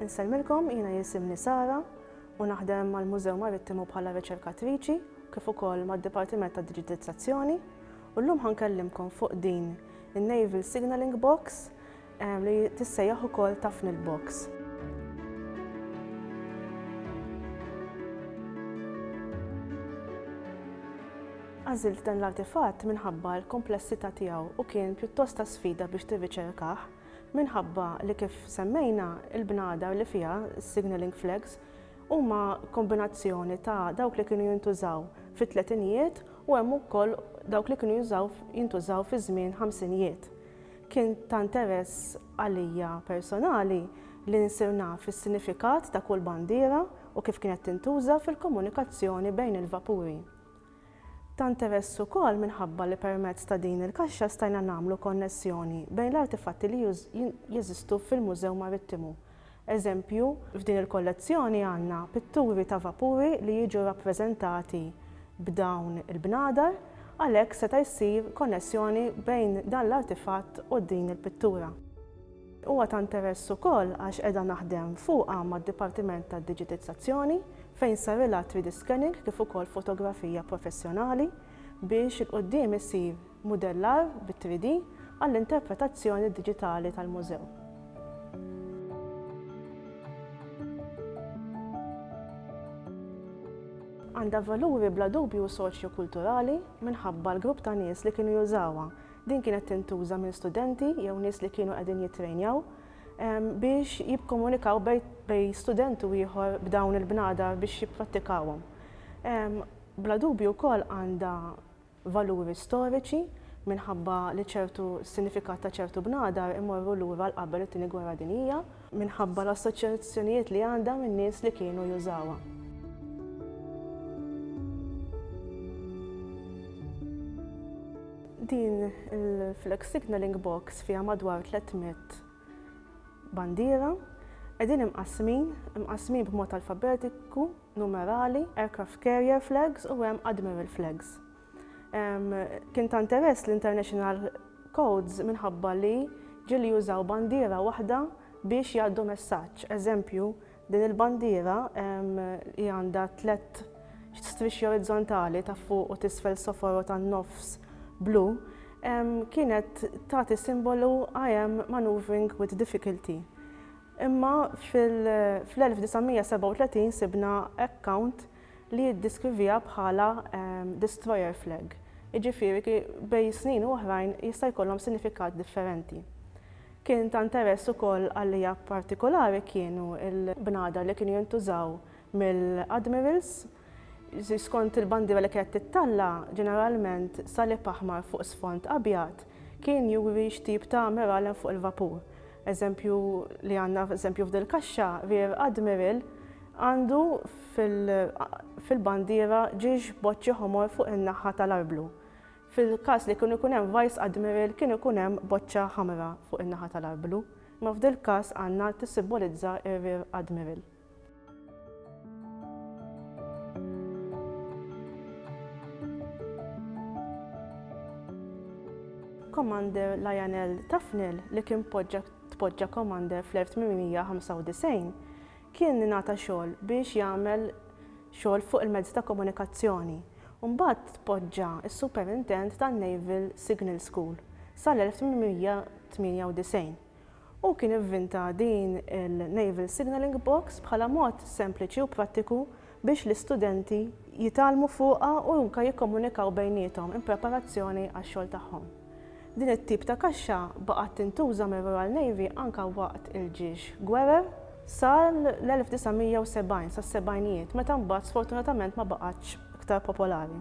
Insellmilkom jiena jisimni Sara u naħdem mal-Mużew Marittimu bħala riċerkatriċi kif ukoll mad-Dipartiment ta' Digitizzazzjoni u llum ħankellimkom fuq din in-Naval Signaling Box li tissejjaħ ukoll Tafni l-Box. Għażilt dan l-artifatt minħabba l-komplessità tiegħu u kien pjuttost ta' sfida biex tirriċerkah minħabba li kif semmejna il-bnadar li fiha signaling flags huma kombinazzjoni ta' dawk li kienu jintużaw fit-tletinijiet u hemm ukoll dawk li kienu jintużaw fi żmien ħamsinijiet. Kien ta' interess għalija personali li nsir naf is-sinifikat ta' kull bandiera u kif kienet tintuża fil-komunikazzjoni bejn il-vapuri. Ta' interess ukoll minħabba li permezz ta' din il-kaxxa stajna nagħmlu konnessjoni bejn l-artifatti li jeżistu fil-Mużew Marittimu Eżempju, f'din il-kollezzjoni għandna pitturi ta' vapuri li jiġu rappreżentati b'dawn il-bnadar, għalhekk seta' jsir konnessjoni bejn dan l-artifatt u din il-pittura. Huwa ta' interess ukoll għax qiegħda naħdem fuqha mad-Dipartiment tad-Diġitizzazzjoni fejn sarilha 3D scanning kif ukoll fotografija professjonali biex 'il quddiem isir Mudellar bit-3D għall-interpretazzjoni diġitali tal-mużew. għandha valuri bla dubju soċjo-kulturali minħabba l-grupp ta' nies li kienu jużawha. Din kienet tintuża minn studenti jew nies li kienu qegħdin jittrejnjaw ehm, biex jibkomunikaw bej student u ieħor b'dawn il-bnadar biex jipprattikawhom. Ehm, bla dubju wkoll għandha valuri storiċi, minħabba li ċertu sinifikat ta' ċertu bnadar imorru lura għal qabel it-Tieni Gwerra Dinjija, minħabba l-assoċjazzjonijiet li għandha min-nies li kienu jużawha. Din il-flag signalling box fiha madwar 300 bandiera, qegħdin imqassmin, imqassmin b'mod alfabetiku numerali, aircraft carrier flags u hemm admiral flags. Kien ta' interess l-international codes minħabba li ġili jużaw bandiera waħda biex jgħaddu messaġġ. Eżempju, din il-bandiera li għandha tlet strixxi orizzontali ta' fuq u tisfel soforo tan nofs blu kienet tagħti simbolu I am maneuvering with difficulty. Imma fl-1937 sibna account li jiddiskrivija bħala destroyer flag, jiġifieri bejn snin u oħrajn jista' jkollhom sinifikat differenti. Kien ta' interess ukoll għalija partikolari kienu l-bnadar li kienu jintużaw mill-admirals, Skont il-bandiera li kienet tittalla', ġeneralment salib aħmar fuq sfond abjad kien juri x'tip ta' ammiral hemm fuq il-vapur. Eżempju li għandna eżempju f'dil kaxxa, Rear Admiral għandu fil-bandiera ġiex boċċi ħomor fuq in-naħħa tal-arblu. Fil-każ li kienu jkun hemm Vice Admiral kien ikun hemm boċċa ħamra fuq in-naħa tal-arblu. Imma f'dil każ għandna tissimbolizza r-Rear Admiral. Commander Lionel Tufnell li kien poġġa tpoġġa commander fl-1895 kien nata xogħol biex jagħmel xogħol fuq il-mezzi ta' komunikazzjoni. Mbagħad tpoġġa s-superintend tan-Naval Signal School sal-1898. Hu kien ivvinta din il-Naval Signalling Box bħala mod sempliċi u prattiku biex l-istudenti jitgħallmu fuqha u anke jikkomunikaw bejniethom in preparazzjoni għax-xogħol tagħhom. Din it-tip ta' kaxxa baqgħet tintuża mir-Royal Navy anke waqt il-ġiex gwerer sal-1970, sas-sebgħinijiet, meta mbagħad sfortunatament ma baqgħetx iktar popolari.